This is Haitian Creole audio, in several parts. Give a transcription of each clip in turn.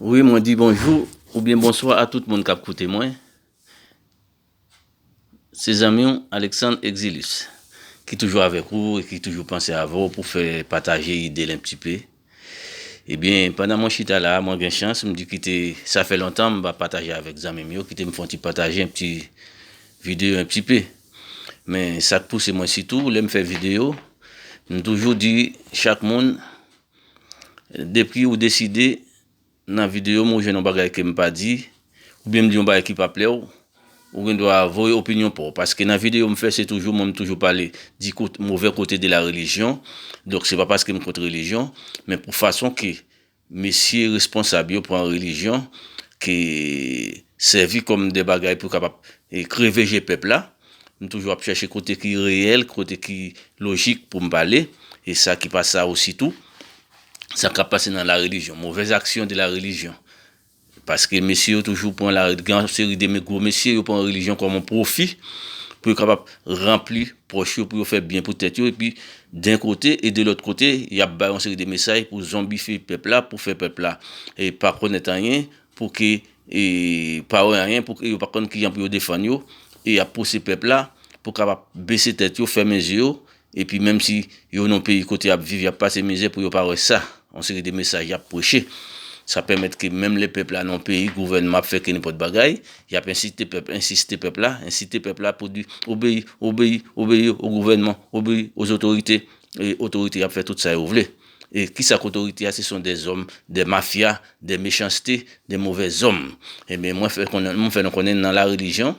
Wi mwen di bonjou oubyen bonswa a tout moun kap koute mwen. Se zanmi w Alexandre Exilus ki toujou avèk ou e ki toujou panse avè w pou fè pataje ide l enptipe. Ebyen pandan mwen chita la mwen gen chans m di kite sa fè lontan m pa pataje avèk zanmi m yo kite m fè yon ti pataje yon ti videyo enptipe. Men sak pouse mwen sitou lè m fè videyo m toujou di chak moun Depi ou deside nan videyo m ou jwenn yon bagay ke m pa di, oubyen m di yon bagay ki pa plè w, ou gen dwa voye opinyon pa w. Paske nan videyo m fè se toujou mwen m toujou pale di kot movè kote de la relijyon. Donk se pa paske m kont relijyon, men pou fason ke mesye responsab yo pran relijyon ke sèvi kòm de bagay pou kapab kreve je pèp la. M toujou ap chèche kote ki reyèl, kote ki lojik pou m pale, e sa ki pa sa osi tou. Sa k ap pase nan la relijyon, movèz aksyon de la relijyon. Paske mesye yo toujou pran la, gen yon seri de me gwo mesye, yo pran relijyon kòm yon pwofi pou yo kapab ranpli pòch yo, pou yo fè byen pou tèt yo. Epi, den kote, e de lòt kote, y ap bay yon seri de mesay pou zonbifye pèp la, pou fè pèp la pa konèt anyen, Pou ke pa wè anyen, pou ke yo pa konn kijan pou yo defann yo, e y ap pouse pèp la pou kapab bese tèt yo, fèmen zye yo, epi menm si yo nan peyi kote y ap viv, y ap pase mizè pou yo pa wè sa. Yon seri de mesaj y ap preche. Sa pèmèt ke menm lè pèp la nan yon peyi, gouvènman ap fè kennenpòt bagay, y ap ensite pèp, ensiste pèp la, ensite pèp la pou di, obeyi, obeyi, obeyi o gouvènman, obeyi o zotorite, e otorite y ap fè tout sa yo vle. E kisa k otorite a se son de zòm de mafya de mechanste de movè zòm ebyen mwen fè konnen mwen fè nou konnen nan la relijyon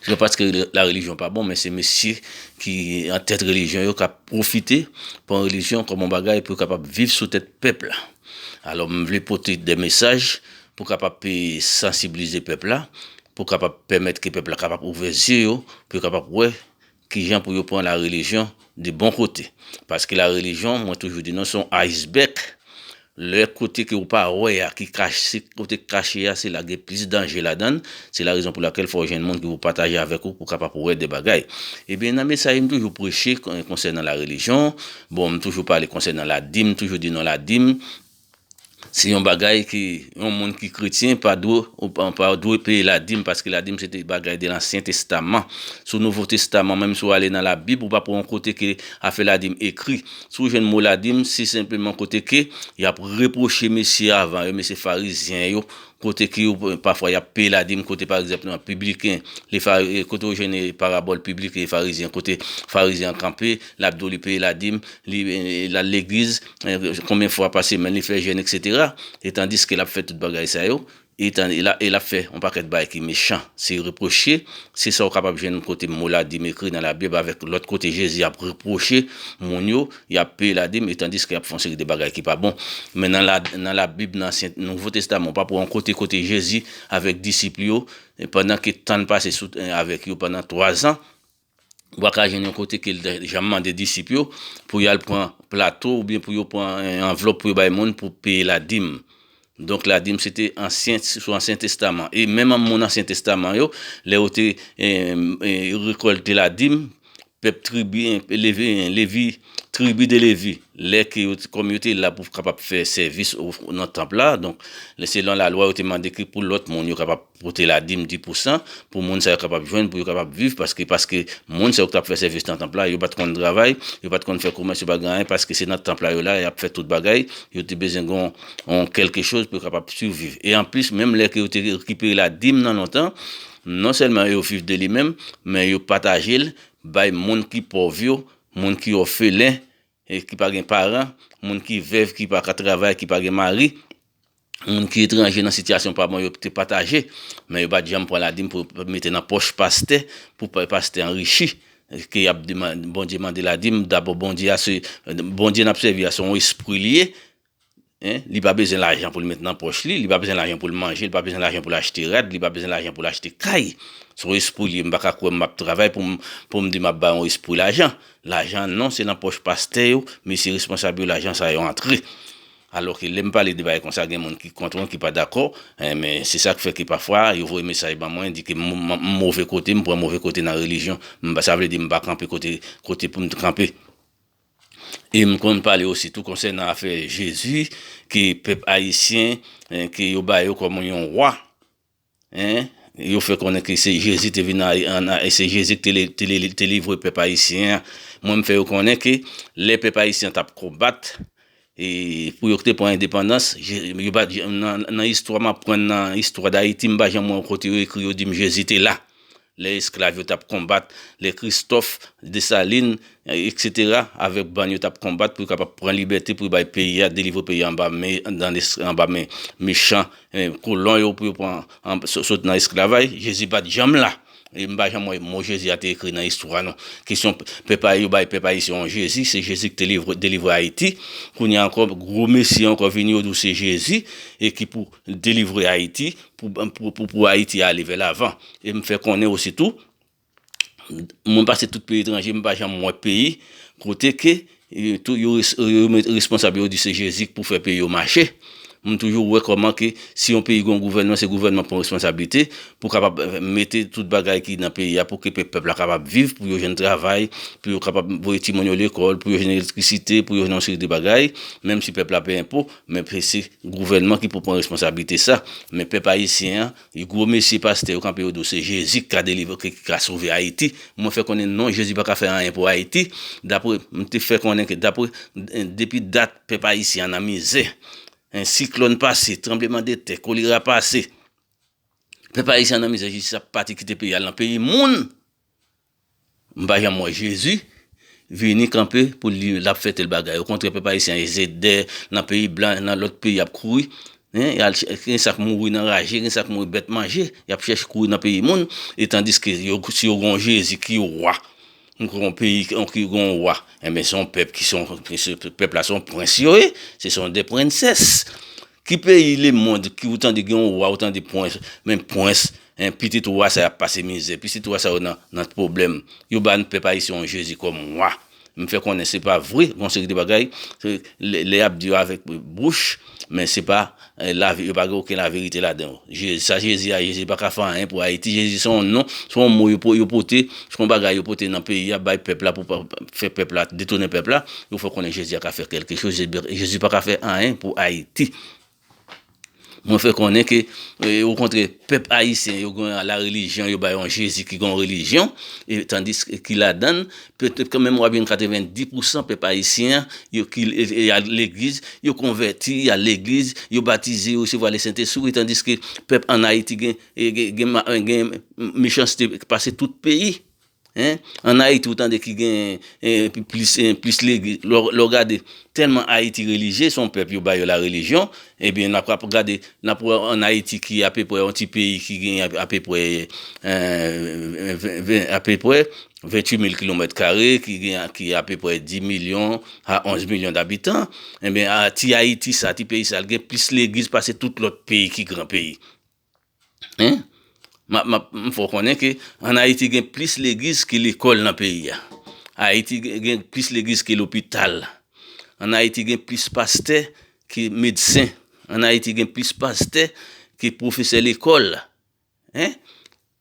se pa paske la relijyon pa bon men se mesye ki an tèt relijyon yo kap pwofite pran relijyon kòm yon bagay pou yo kapab viv sou tèt pèp la alò m vle pote de mesaj pou kapab pe sansiblize pèp la pou kapab pèmèt ke pèp la kapab ouvè zye yo pou yo kapab wè Kijan pou yo pran la relijyon de bon kote. Paske la relijyon mwen toujou di nou se yon iceberg lè kote ke ou pa wè a ki kache kote ki kache a se la gen plis danje ladan l se la rezon pou lakèl fò w jwenn moun ki pou pataje avèk ou pou kapab wè de bagay ebyen nan mesaj m toujou preche konsènan la relijyon bon m toujou pale konsènan ladim m toujou di nou ladim Se yon bagay ke yon moun ki kretyen pa dwe ou pa dwe peye ladim paske ladim se te bagay de lansyen testaman. Sou nouvo testaman menm si w ale nan labib ou pap wè yon kote ke afè ladim ekri. Si w jwenn mo ladim se senpleman kote ke yap repwoche mesye avan yo, mesye farizyen yo Kote ki yo pafwa y ap peye la, di m kote pa egzanp nan pibliken, kote ou jwenn parabòl pibliken e farizyen, kote farizyen an kanpe, l ap di w li peye la di m, li al legliz konbyen fwa pa semèn, li fè jèn eksetera, e tandiske l ap fè tout bagay sa yo, e l ap fè yon pakèt bagay ki mechan, se repwoche, se sa ou kapab jwenn kote mo la di m ekri nan labib avèk lòt kote Jezi ap repwoche moun yo Y ap peye ladim e tandiske y ap fè yon seri de bagay ki pa bon. Men nan Labib, nan Ansyen, Nouvo Testaman, ou pa pou wè yon kote kote Jezi avèk disip li yo, pandan ke tan l pase sou tè avèk yo pandan twazan, ou pa ka jwenn yon kote ke l te janm mande disip yo pou y al pran plato oubyen pou yo pran yon anvlòp pou yo bay moun pou peye ladim. Donk la di m se te ansyen sou ansyen testaman e menm moun ansyen testaman yo lè yo te rekòlte la di m pèp tribi levi tribi de levi lè ke yo kòm yo te la pou kapab fè sèvis nan tanp la donk lè se lan la lwa yo te mande ke pou lòt moun yo kapab Pote la dim di pou san pou moun sa yo kapab jwenn pou yo kapab viv paske paske moun sa yo ki tap fè sèvis nan tanp la yo pat konn travay yo pat konn fè komès yo pa gen anyen paske se nan tanp la yo la yap fè tout bagay yo te bezwen gon yon kelke choz pou yo kapab surviv e anplis menm lè ke yo te rekipere la dim nan lontan non sèlman yo viv de li menm men yo patajel bay moun ki pòv yo moun ki òfelen ki pa gen paran, moun ki vèv ki pa ka travay, ki pa gen mari, moun ki etranje nan sitiyasyon pa bon yo te pataje, men yo pa t janm pran ladim pou yo mete nan pòch pastè, pou pastè anrichi, ke y ap Bondye mande ladim, dabò Bondye a se, Bondye n ap sèvi a se yon espri li ye, Li pa bezwen lajan pou l met nan pòch li, li pa bezwen lajan pou l manje, li pa bezwen lajan pou l achte rad, li pa bezwen lajan pou l achte kay. Se yon espri l ye, m pa ka kwè m ap travay pou m di m ap bay yon espri lajan. Lajan non, se nan pòch pastè yo, mesye responsab yo lajan sa yo antre. Alò ke lè m pale de bagay konsa gen moun ki kont mwen, ki pa dakò, men se sa k fè ke pafwa yo voye mesaj ban mwen di ke m move kote, m pran move kote nan relijyon. Sa vle di m pa kanpe kote pou m te kanpe. E m konn pale osi tou konsènan afè Jezi ke pèp ayisyen ke yo ba yo kòm yon wa en, yo fè konnen ke se Jezi te vin an e se Jezi ki te livre pèp ayisyen an. Mwen m fè yo konnen ke lè pèp ayisyen an t ap konbat E pou yo k te pran endepandans, yo pa di, nan istwa m aprann nan istwa dayiti, m pa janm wè yon kote yo ekri yo di m Jezi te la. Lè esklav yo t ap konbat, lè Kristòf, Desalin, eksetera, avèk bann yo t ap konbat pou yo kapab pran libète pou yo bay peyi a, delivre peyi a anba men, anba men mechan, kolon yo pou yo pran, sot nan esklavay, Jezi pa t janm la. E m pa janm wè mo Jezi a te ekri nan istwa non. Kesyon pèp a yo bay pèp ayisyen an Jezi, se Jezi ki te delivre Ayiti. Kounye a ankò gwo mesi ankò vini yo di w se Jezi e ki pou delivre Ayiti pou Ayiti ale vè lavan. E m fè konnen osi tou, mwen pase tout peyi etranje m pa janm wè peyi kote ke Tou yo met responsab yo di se jezi k pou fè peyi yo mache m toujou wè kòman ke si yon peyi gon gouvènman se gouvènman k pran responsablite pou kapab mete tout bagay ki nan peyi a pou ke pèp la kapab viv pou yo jwenn travay pou yo kapab voye timoun yo lekòl pou yo jwenn elektrisite pou yo jwenn yon seri de bagay menm si pèp la peye enpo men se gouvènman ki pou pran responsablite sa men pèp ayisyen an Ui gwo mesi pastè yo kanpe yo do se jezi ki ka delivre ki ka sove ayiti mwen fè konnen non jezi paka fè anyen pou ayiti dapre m te fè konnen ke dapre depi dat pèp ayisyen an nan mizè en siklòn pase tranbleman de tè kolera pase pèp ayisyen an nan mizè jezi sa pati kite peyi al nan peyi moun. M pa janm wè jezi Vini kanpe pou li lap fè tel bagay okontrè pèp ayisyen an eze dè nan peyi blan nan lòt peyi yap kouri hein yal chè gen sak mouri nan raje gen sak mouri bèt manje yap chèche kouri nan peyi moun etandiske yo si yo gon jezi ki wa m kwè yon peyi ki gon wa enben son pèp ki son pèp la son prens yo ye se son de prensès. Ki peyi le mond ki ou tande gen yon wa ou tande pwens men pwens en pitit wa sa yo ap pase mizè pitit wa sa yo nan pwoblèm yo ba n pèp ayisyen yon jezi kòm wa m fè konnen se pa vre gon seri de bagay lè y ap di yo avèk bouch men se pa lavi yo pa gen oken laverite ladan yo je sa jezi a jezi pa ka fè anyen pou ayiti jezi se yon non se yon mo yo pote se yon bagay yo pote nan peyi a bay pèp la pou fè pèp la detounen pèp la Yo fè konnen jezi a ka fè kelke choz jezi paka fè anyen pou ayiti mwen fè konnen ke o kontrè pèp ayisyen yo gen la relijyon yo bay yon jezi ki gen yon relijyon tandis ki ladann petèt ke menm wap jwenn 90 pousan pèp ayisyen yo ki al legliz yo konvèti yo al legliz yo batize yo resevwa le sentespri wi tandis ke pèp an ayiti gen gen gen mechanste pase tout peyi. Hein an ayiti ou tande ki gen plis plis legliz lè w gade tèlman ayiti relijye son pèp yo bayo la relijyon ebyen nap ap gade nap wè an ayiti ki apepwè yon ti peyi ki gen apepwè ven apepwè ventuit mil kilomèt kare ki gen ki apepwè di milyon a onz milyon dabitan ebyen ti ayiti sa ti peyi sa gen plis legliz pase tout lòt peyi ki gran peyi M fè w konnen ke an Ayiti gen plis legliz ke lekòl nan peyi a. Ayiti gen plis legliz ke lopital. An Ayiti gen plis pastè ke medsen. An Ayiti gen plis pastè ke pwofesè lekòl.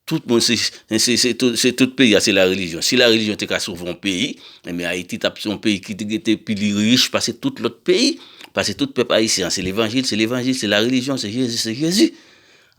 Tout moun se se tout peyi a se la relijyon. Si la relijyon te ka sove yon peyi, enben Ayiti tap se yon peyi ki te gete pi li rich pase tout lòt peyi, pase tout pèp ayisyen an se levanjil, se levanjil, se la relijyon, se Jezi, se Jezi.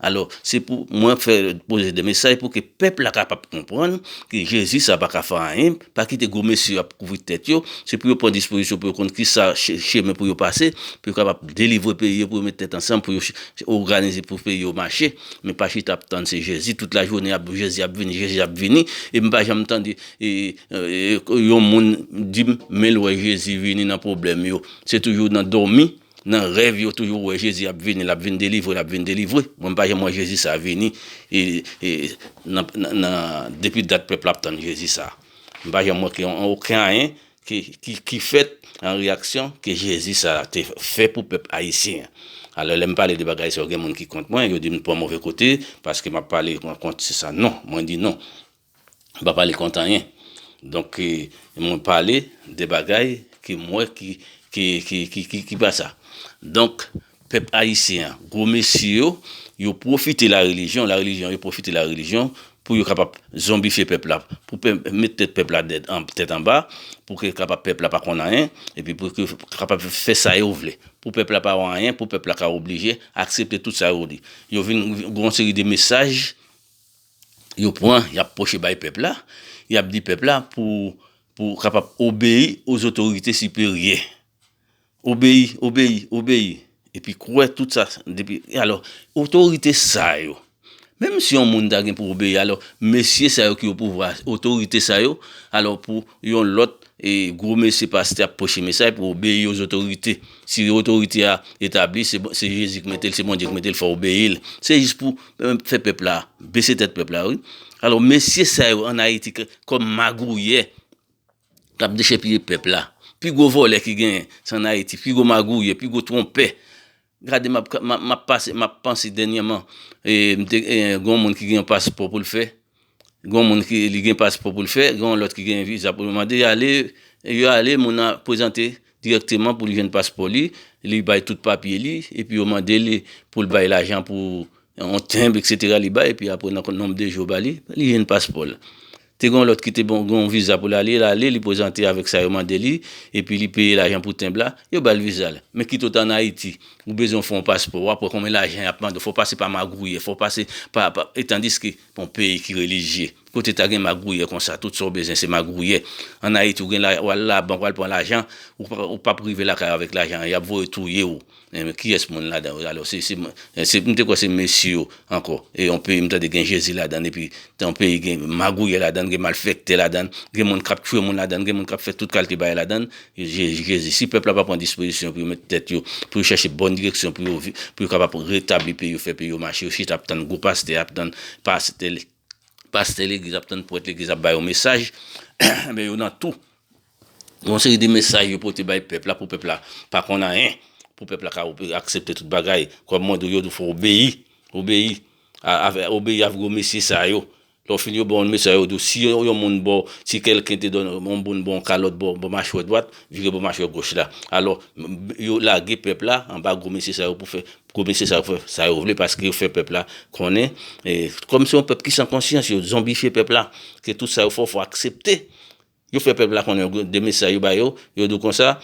Alò, se pou mwen fè poze de mesaj pou ke pèp la kapab konprann ke Jezi sa pa ka fè anyen, pa kite gwo mesye yo ap kouvri tèt yo, se pou yo pran dispozisyon pou yo konn ki sa chemen pou yo pase, pou yo kapab delivre peyi yo, pou yo mete tèt ansanm, pou yo oganize pou peyi yo mache. Men pa chita ap tann se jezi tout la jounen ap jezi ap vini jezi ap vini epi pa janm tande yon moun dim menl wè jezi vini nan problèm yo se toujou nan domi nan rèv yo toujou wè jezi ap vini lap vin delivre lap vin delivre mwen pa janm wè jezi sa vini nan depi dat pèp la ap tann jezi sa mwen pa janm wè okenyen ki fèt an reyaksyon ke jezi sa a te fè pou pèp ayisyen an. Alò lè m pale de bagay sa yo gen moun ki kont mwen, yo di m pran move kote paske m ap pale kont se sa. Non, mwen di non, m pa pale kont anyen. Donk mwen pale de bagay ke m wè ki pa sa. Donk Pèp ayisyen an, gwo mesye yo, yo pwofite la relijyon, la relijyon, yo pwofite la relijyon pou yo kapab zonbifye pèp la, pou mèt tèt pèp la dèd, tèt anba, pou ke kapab pèp la pa konn anyen, epi pou ke kapab fè sa yo vle. Pou pèp la pa wè anyen, pou pèp la ka oblije aksepte tout sa yo di. Yo vin gon seri de mesaj, yo pran, y ap pwoche bay pèp la, y ap di pèp la pou kapab obeyi o zotorite siperyè. Obeyi, obeyi, obeyi, epi kwè tout sa, depi, e alò, otorite sa yo, menm si yon moun ta gen pou obeyi, alò, mesye sa yo ki opouvwa, otorite sa yo, alò, pou yon lòt, e gwo mesye pastè ap preche mesay pou obeyi o zotorite, si otorite a etabli, se bon, se Jezi ki mete l, se Bondye ki mete l, fò w obeyi l, se jis pou fè pèp la, bese tèt pèp la wi, alò, mesye sa yo an Ayiti kòm magouyè. Kap dechèpiye pèp la. Pi gwo vòlè ki genyen se an Ayiti, pi gwo magouyè, pi gwo twonpè. Gade map pase, map panse dènyèman, gen yon moun ki gen yon paspò pou l fè, gen yon moun ki gen paspò pou l fè, gen yon lòt ki gen viza pou l mande, yo ale, yo ale moun nan prezante dirèkteman pou li jwenn paspò li, li bay tout papye li, epi yo mande li pou l bay lajan pou yon tenb eksetera li bay, epi apre nan nonb de jou yo ba li, li jwenn paspò l. Te gen yon lòt ki te gen yon viza pou l ale, l ale, li prezante avèk sa yo mande li, epi li peye lajan pou tenb la, yo ba l viza l. Men kite w ta ann Ayiti, ou bezwen fè yon paspò, w ap wè konbyen lajan y ap mande w, fò w pase pa magouyè, fò w pase pa, pa, e tandiske, yon peyi ki relijye, kote ta gen magouyè konsa, tout sa w bezwen se magouyè. Ann Ayiti, w gen la, w al labank, w al pran lajan, ou pa, ou p ap rive lakay ou avèk lajan an, y ap voye touye ou. Men kiyès moun ladan yo alò se se m te kwè se mesye yo ankò e yon peyi m tande gen jezi ladan epi yon peyi gen magouyè ladan gen malfèktè ladan gen moun kap tchwe moun ladan gen moun kap fè tout kalte bagay ladan jezi si pèp la pa pran dispozisyon pou yo mèt tèt yo pou yo chèche bòn direksyon pou yo vi pou yo kapab retabli peyi yo fè peyi yo mache yo chita ap tann gwo pastè ap tann pastè pastè legliz ap tann pwèt legliz ap ba yo mesaj men yo nan tou. Gen yon seri de mesaj yo pote bay pèp la pou pèp la pa konn anyen, pou pèp la ka aksepte tout bagay. Kòm mwen di w, yo di w fò obeyi, obeyi, obeyi avèk gwo mesye sa yo. Lè w fin yo ba w yon mesaj yo di w si yon moun ba w, si kèlken te donn w, yon moun ba w yon kalòt bò machwè dwat, vire bò machwè goch la. Alò, yo lage pèp la anba gwo mesye sa yo pou fè, gwo mesye sa yo pou fè sa yo vle paske yo fè pèp la konnen, kòm se yon pèp ki san konsyans, yo zonbifye pèp la, ke tout sa yo fè w fò aksepte. Yo fè pèp la konnen de mesaj yo ba yo, yo di w konsa,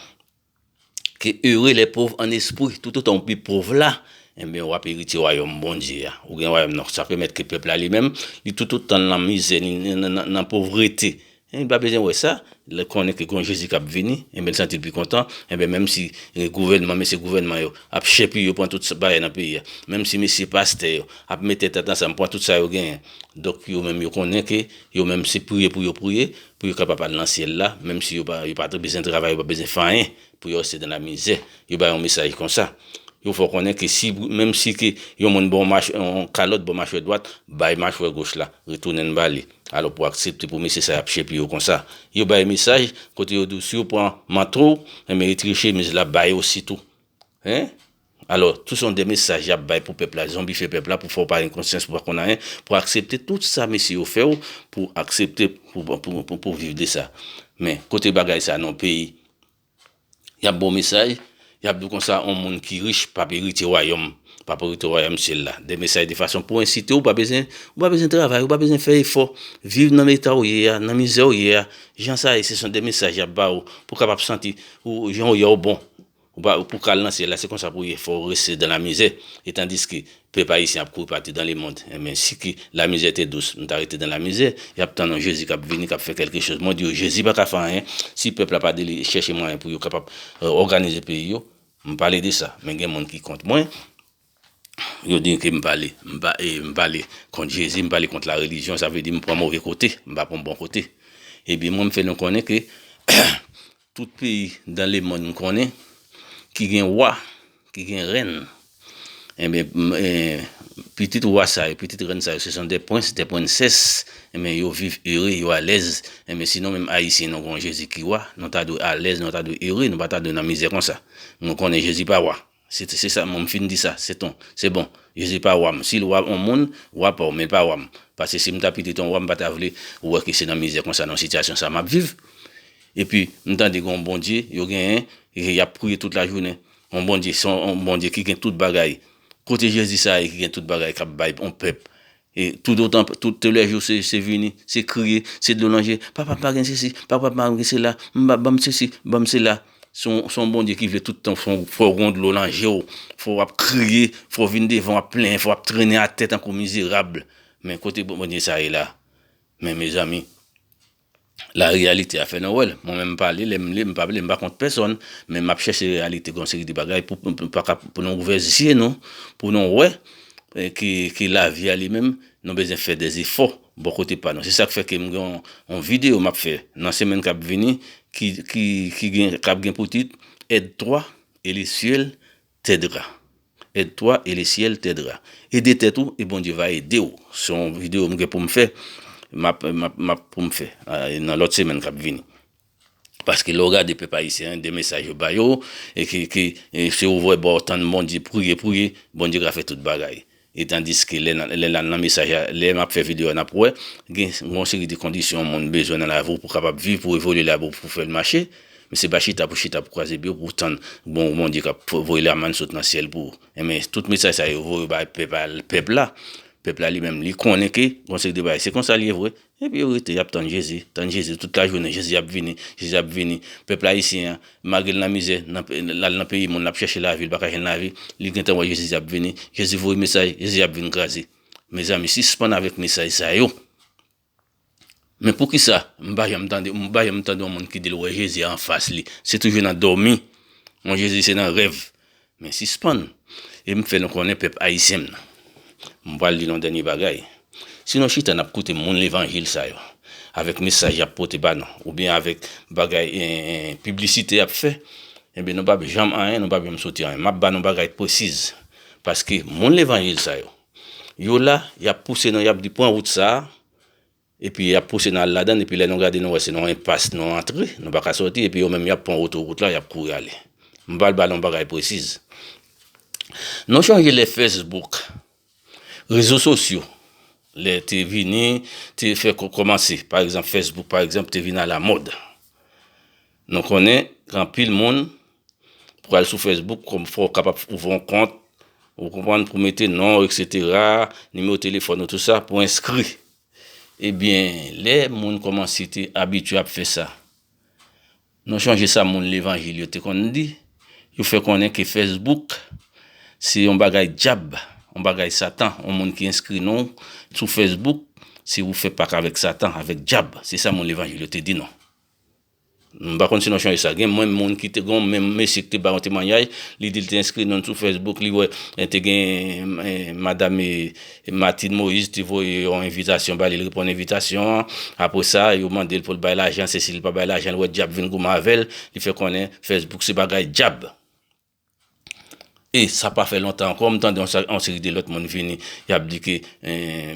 ke ere lè pov an espri, toutotan w pi pov la, enben wap eritye wayòm Bondye a, ou gen wayòm nan, sa pèmèt ke pèp la li menm, li toutotan l nan mizè, li nan povrete, li pa bezwen wè sa, lè konnen ke gon Jezi kap vini, enben l santi l pi kontan, enben menm si gouvènman, mesye gouvènman yo, ap chèpi yo pran tout bagay nan peyi a, menm si mesye pastè yo, ap mete tèt ansanm pran tout sa yo genyen, donk yo menm yo konnen ke Yo menm se priye pou yo priye, pou yo ka Papa n nan Syèl la, menm si yo pa t bezwen travay, yo pa bezwen fè anyen, pou yo reste dans la misère. Yo bay yon mesaj konsa. Yo fè w konnen ke si, menm si ke yon moun ba w yon kalòt, ba w machwè dwat, bay machwè goch la, retounen l ba li. Alò pou w aksepte pou mesye sa y ap chepiye w konsa. Yo bay mesaj kote yo di w si yo pran manto w, enben yo treche miz la ba yo osi tou. Hein? Alò, tout se yon de mesaj yap bay pou pèp la, zonbifye pèp la pou fè w pa gen konsyans, pou w pa konn anyen, pou w aksepte tout sa mesye yo fè w, pou w aksepte pou w viv de sa. Men, kote bagay sa nan yon peyi, yap ba w mesaj, yap di w konsa yon moun ki rich pap eritye wayòm, pap eritye wayòm syèl la. De mesaj de fason pou ensite w, ou pa bezwen, ou pa bezwen travay, ou pa bezwen fè efò, viv nan eta w ye a, nan mizè w ye a, jan sa ye se son de mesaj yap ba w, pou w kapab santi, ou jan w ye a ou bon. Ou pa pou kal nan syèl la se konsa pou ye fò ou reste dan la mizè e tandiske pèp ayisyen ap kouri patu dan le mond enben si ki la mizè te dous nou ta rete dan la mizè yap tann yon jezi kap vini kap fè kelke choz mwen di yo jezi paka fè anyen si pèp la pa deli chèche mwayen pou yo kapab òganize peyi yo m pale de sa men gen moun ki kont mwen. Yo di ke m pale, m pa e, m pale kont Jezi, m pale kont la relijyon, sa vle di m pran move kote, m pa pran bon kote. Ebyen mwen m fè nou konnen ke tout peyi dan le monn m konnen ki gen wa, ki gen rèn, enben m e, pitit wa sa yo, pitit rèn sa yo, se son de prens, de prensès, enben yo viv ere, yo alèz, enben si nou menm Ayisyen nou gen yon Jezi ki wa, nou ta dwe alèz, nou ta dwe ere, nou pa ta dwe nan mizè konsa. Nou konnen Jezi pa wa. Se sa mwen m fin di sa, se ton. Se bon. Jezi pa wa m. Si l wa on moun, wa pa w, men l pa wa m. Pase si m ta pitit on wa, m pa ta vle ou wè ke se nan mizè konsa, nan sitiyasyon sa m ap viv. Epi, m tande gen on Bondye yo genyen, ke y ap priye tout lajounen. On Bondye, se on Bondye ki gen tout bagay. Kote Jezi sa a ye ki gen tout bagay k ap bay on pèp E tout otan, tout lè jou se, se vini, se kriye, se dlo nan je, papa m pa gen sesi, papa m pa gen sela, m pa, ban m sesi, ban m sela. Se yon, se yon Bondye ki vle tout tan fè w, fè w gon dlo nan je w, fè w ap kriye, fè w vin devan w ap plenyen, fè w ap trennen atè tankou mizerab. Men kote Bondye sa ye la? Men mezanmi! la reyalite a fè nou wè l. Mwen menm m pa li, lè m li m pa ble, m pa kont pèsòn, men m ap chèche reyalite yon seri de bagay pou nou ouvè zye nou, pou nou wè ke lavi a li menm nou bezwen fè de zefò bò kote pa nou. Se sa k fè ke m gen yon videyo m ap fè nan semèn k ap vini ki ap gen pou tit, Aide-toi, Elie Suel, Tedra Aide toi et le ciel Tedra Ede tèt ou e Bondye va ede w Se yon video m gen pou m fè Map map pou m fè nan lòt semèn kap vini Paske lè w gade pèp ayisyen an de mesaj yo ba yo e ki ki si w vwe ba w tann Bondye priye priye Bondye ka fè tout bagay E tandiske lè n al nan mesaj la, lè m ap fè videyo a n ap wè, gen yon seri de kondisyon yon moun bezwen nan lavi w pou w kapab viv, pou w evolye la pou w fè l mache. Men se pa chita pou chita pou kwaze bri w pou w tann bon w Bondye k ap voye lamann sot nan syèl pou ou. Enben, tout mesaj sa yo voye bay pèp la. Pèp la li menm li konnen ke gen yon seri de bagay se konsa l ye vre. Epi yo rete, y ap tann Jezi, tann Jezi tout lajounen, Jezi ap vini, Jezi ap vini. Pèp ayisyen an, malgre l nan mizè, l al nan peyi moun, l ap chèche lavi, l pa ka jwenn lavi, li gentan wè Jezi ap vini, Jezi voye mesaj, Jezi ap vin kraze. Mezanmi, sispann avèk mesaj sa yo! Men poukisa m pa janm tande, m pa janm tande yon moun ki di l wè Jezi anfas li? Se toujou nan dòmi, yon Jezi se nan rèv, Men sispann e m fè nou konnen pèp ayisyen m nan. M pral di nou dènye bagay. Si nou chita n ap koute moun levanjil sa yo, avèk mesaj y ap pote ba nou, oubyen avèk bagay piblisite y ap fè, enben nou p ap janm anyen, nou p ap janm soti anyen. M ap ba nou bagay pwesiz. Paske moun levanjil sa yo, yo la, y ap pouse nou, y ap di pran wout sa a, Epi y ap pouse nou al ladan l, epi lè nou gade nou wè se nan yon enpas nou antre, nou pa ka sòti, epi yo menm y ap pran otowout la, y ap kouri ale. M pral ba nou yon bagay presiz. Nou chonje lè fesbouk, rezo sosyo, lè te vini, te fè kòmanse, pa egzanp fesbouk pa egzanp te vin alamòd. Nou konnen gen anpil moun pou al sou Facebook kòm fòw kapab ouvri yon kont ou konprann pou mete nonw etc nimewo telefòn ou tout sa pou enskri ebyen lè moun kòmanse te abitye ap fè sa nou chanje sa moun levanjil yo te konn di yo fè konnen ke Facebook se yon bagay dyab yon bagay satan yon moun ki enskri non sou Facebook se ou fè pak avèk satan avèk dyab se sa moun levanjil yo te di nou. M pa konn si nou chanje sa. Gen menm moun ki te gon menm mesye ki te bay yon temwanyaj, li di li te enskri non l sou Facebook, li wè te gen madam Martine Moïse te voye yon envitasyon ba li, li reponn envitasyon an. Apre sa, yo mande l pou l bay lajan, se si li pa bay lajan, l wè dyab vin goumen avè l, li fè konnen Facebook se bagay dyab. E sa pa fè lontan ankò, m tande yon seri de lòt moun vini, y ap di ke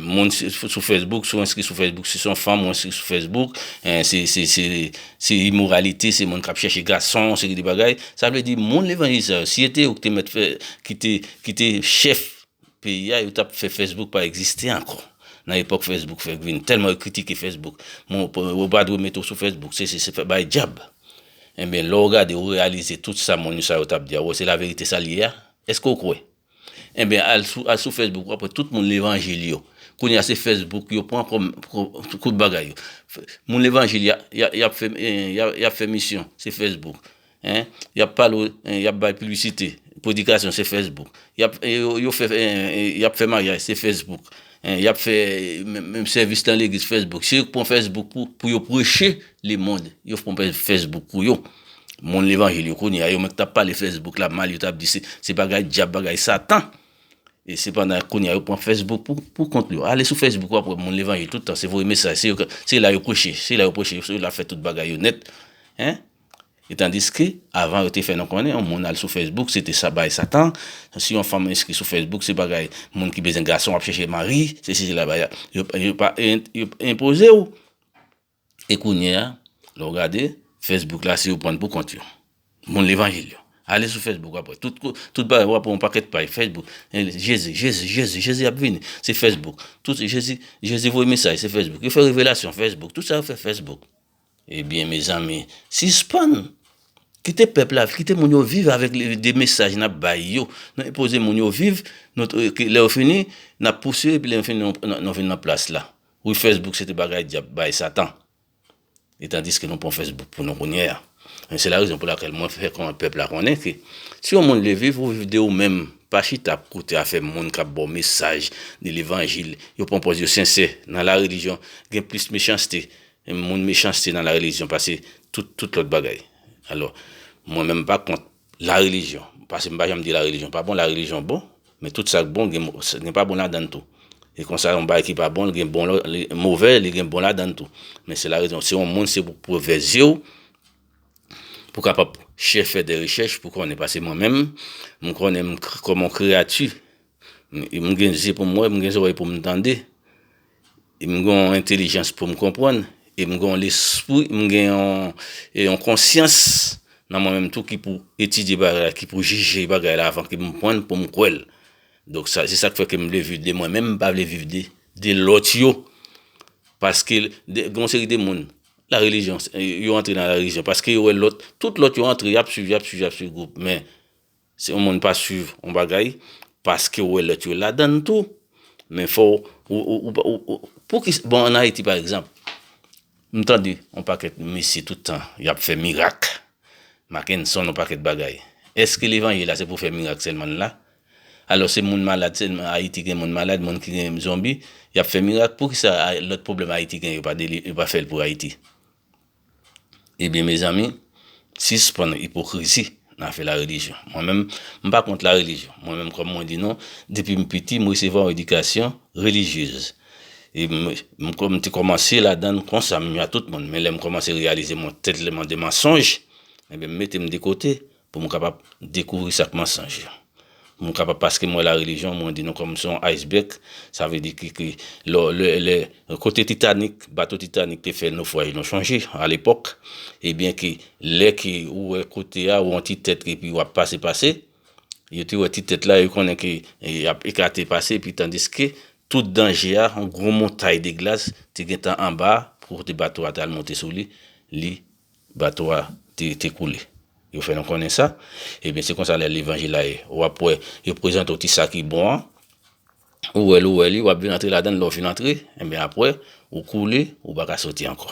moun sou Facebook, si w enskri sou Facebook, si se yon fanm ou enskri sou Facebook, se imoralite, se moun k ap chèche gason, yon seri de bagay. Sa vle di, moun levanjelize sa yo, si se te yo ki te chèf peyi a yo tap fè Facebook pa egziste ankò nan epòk Facebook fèk vini tèlman yo kritike Facebook moun yo pa dwe mete w sou Facebook sesi se fè bay djab enben lè w gade ou reyalize tout sa moun sa yo tap di a ou wè se laverite sa l ye a èske w kwè enben al sou Facebook wap wè tout moun levanjil yo kounye a se Facebook yo pran kòm tout bagay yo moun levanjil yap fè misyon se Facebook Hein yap pale ou yap bay piblisite predikasyon se Facebook yap yo fè yap fè maryaj se Facebook hein yap fè menm sèvis nan legliz Facebook se yo ki pran Facebook pou yo preche lemond yo pran Facebook pou yo moun levanjil yo kounye a yo menm ki tap pale Facebook la mal yo tap di se bagay dyab bagay satan e sepandan kounye a yo pran Facebook pou kont yo ale sou Facebook wap wè moun levanjil tout tan se voye mesaj se la yo preche se la yo preche se la yo fè tout bagay yo nèt hein. E tandiske, avan yo te fè nou konnen yon moun al sou Facebook se te sa bay satan, si yon fanm enskri sou Facebook se bagay moun ki bezwen gason ap chèche mari, se si se la bay yo enpoze ou. E kounye a, lè ou gade, Facebook la se yo pran pou kont yo. Moun levanjil yo. Ale sou Facebook wap wè, tout bagay wap wè yon pakèt paj Facebook, Jezi, Jezi, Jezi, Jezi ap vini, se Facebook, tout Jezi, Jezi voye mesaj se Facebook, yo fè revelasyon, Facebook, tout sa yo fè Facebook. Ebyen mezanmi sispann Kite pèp la Kite moun yo viv avèk de mesaj nap bay yo nan enpoze moun yo viv lè yo fini nap pouse yo epi lè yo fini nou vin nan plas la wi fesbouk se te bagay dyab bay satan etandiske nou pran fesbouk pou nou kounye a men se la rezon pou lakèl mwen fè pèp la konnen ke si yon moun vle viv ou viv de ou menm pa chita ap koute afè moun kap baw mesaj de levanjil yo pran pòz yo sensè nan la relijyon gen plis mechanste Moun mechanste nan la religion pase tout lot bagay. Alo mwen menm pa kont la religion. Pase m pa janm di la religion pa bon. La religion bon. Men tout sak bon gen pa bon ladann tou. E konsa yon bagay ki pa bon gen bon move li gen bon ladann tou. Men se la religion. Se yon moun se pou pou ve zye w. Pou kapab chè fè de rechèch pou konnen. Pase mwen menm m konnen m koman kreyati. M gen zye pou m we m gen zorey pou m tande. M gen yon entelijans pou m konprann e m gen yon lespri, m gen yon konsyans nan mwen menm tou ki pou etidye bagay la, ki pou jije bagay la avan ke m pran l pou m kwè l. Donk sa, se sa k fè ke m vle viv de mwen menm, m pa vle viv de, de lòt yo. Paske, gen yon seri de moun, la relijyon, yo antre nan la relijyon paske yo wè lòt, tout lòt yo antre, y ap swiv, y ap swiv, y ap swiv gwoup men. Si yon moun pa swiv yon bagay paske ou wè lòt yo ladann tou men fò ou poukisa bon an ayiti pa egzanp m tande yon pakèt mesye tout tan yap fè mirak makenson yon pakèt bagay eske levanjil la se pou fè mirak sèlman l la alò se moun malad sèlman ayiti gen moun malad moun ki gen zonbi yap fè mirak poukisa lòt pwoblèm ayiti gen yo pa fè l pou ayiti. Ebyen mezanmi sispann ipokrizi nan afè la relijyon. Mwen menm m pa kont la relijyon. Mwen menm kòm mwen di nou depi m piti m resevwa yon edikasyon relijyez. E m kòm te kòmanse ladann konsa menm jan tout moun. Men lè m kòmanse reyalize mwen tèlman de mansonj, ebyen m mete m de kote. Pou m kapab dekouvri sa k mansonj. Pou m kapab paske m wè la relijyon mwen di nou kòm se yon iceberg sa vle di ke lò lè kote titanik bato titanik te fè nofraj nou chonje a lepòk ebyen ke lè ke ou wè kote a ou wè yon ti tèt epi w ap pase pase yo te wè ti tèt la yo konnen ke y ap ekate pase epi tandiske tout danje a yon gwo montay de glas te gentan anba kote bato a te al monte sou li li Bato a te koule. Yo fè nou konnen sa. Ebyen se konsa lè levanjil la ye. Ou ap wè yo prezante w ti sa ki bon an. Ou wè l ou wè li ou ap vin antre ladan l. Lè ou fin antre ebyen apre ou koule ou pa ka soti ankò.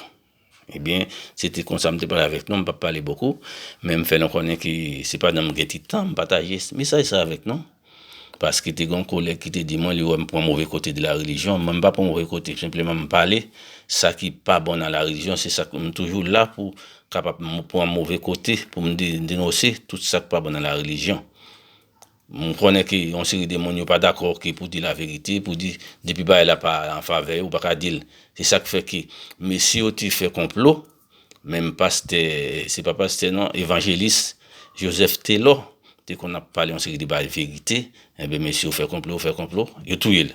Ebyen se te konsa m te pale avèk nou. M pap pale bokou men m fè nou konnen ke se pandan m gen ti tan m pataje mesaj sa avèk nou. Paske te gen yon kolèg ki te di mwen li wè m pran move kote de la relijyon. Mwen m pa pran move kote, senpleman m pale sa ki pa bon nan la relijyon. Se sak m toujou la pou kapab pran move kote pou m denose tout sa k pa bon nan la relijyon. M konnen ke yon seri de moun yo pa dakò ke pou di la verite, pou di depi bagay la pa an favè yo, ou pa ka di l. Se sak fè ke mesye yo te fè konplo. Menm pastè, se pa pastè non, evanjelis Joseph Telò te konn ap pale yon seri de bagay verite, enben mesye ou fè konplo, ou fè konplo, yo touye l.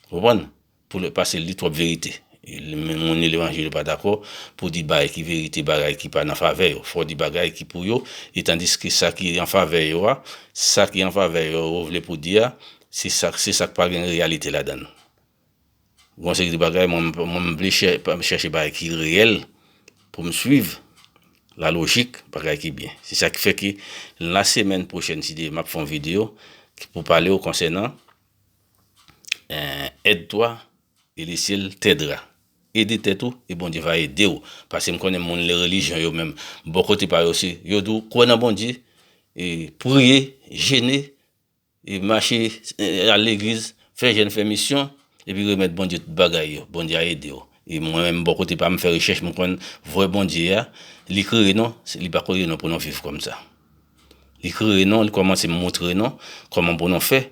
Ou konprann? Pou l, pase l di twòp verite. Menm moun li levanjil yo pa dakò pou di bagay ki verite, bagay ki pa nan favè yo. Fò w di bagay ki pou yo, e tandiske sa ki an favè yo a, sa ki an favè yo ou vle pou di a, se sa k pa gen reyalite ladan l. Gon seri de bagay mwen m vle chache bagay ki reyèl pou m swiv la lojik bagay ki byen. Se sa ki fè ke la semèn pwochèn si Dye vle m ap fè yon videyo ki pou pale w konsènan Aide toi et le ciel t'aidera Ede tèt ou e Bondye va ede w. Pase m konnen moun le relijyon yo menm bò kote pa yo se yo di w kwè nan Bondye e priye, jene Mache al legliz, fè jèn, fè misyon, epi remèt Bondye tout bagay yo. Bondye a ede w. E mwen menm bò kote pa m fè rechèch m konn vrè Bondye a, li kreye nou, li pa kreye nou pou nou viv kòm sa. Li kreye nou, li kòmanse montre nou kòman pou nou fè,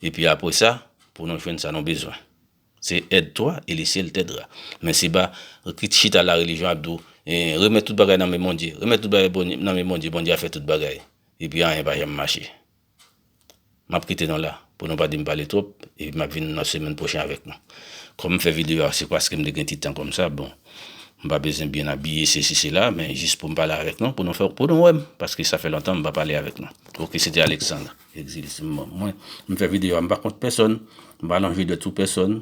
epi apre sa pou nou jwenn sa nou bezwen. Se èd twa e le syèl tèdra. Men se pa kit chita la relijyon ap di w remèt tout bagay nan men Bondye, remèt tout bagay nan men Bondye, Bondye a fè tout bagay, epi anyen pa janm mache. Map kite nou la pou nou pa dim pale twop epi map vin nan semèn pwochen avèk nou. Kòm fè videyo a se paske m te gen ti tan kòm sa bon m pa bezwen byen abiye sesi sela men jis pou m pale avèk nou pou nou fè pou nou wè m paske sa fè lontan m pa pale avèk nou. Ok se te Alexandre Exil se m fè videyo a m pa kont pèsòn m pa nan jwe dwèt sou pèsòn.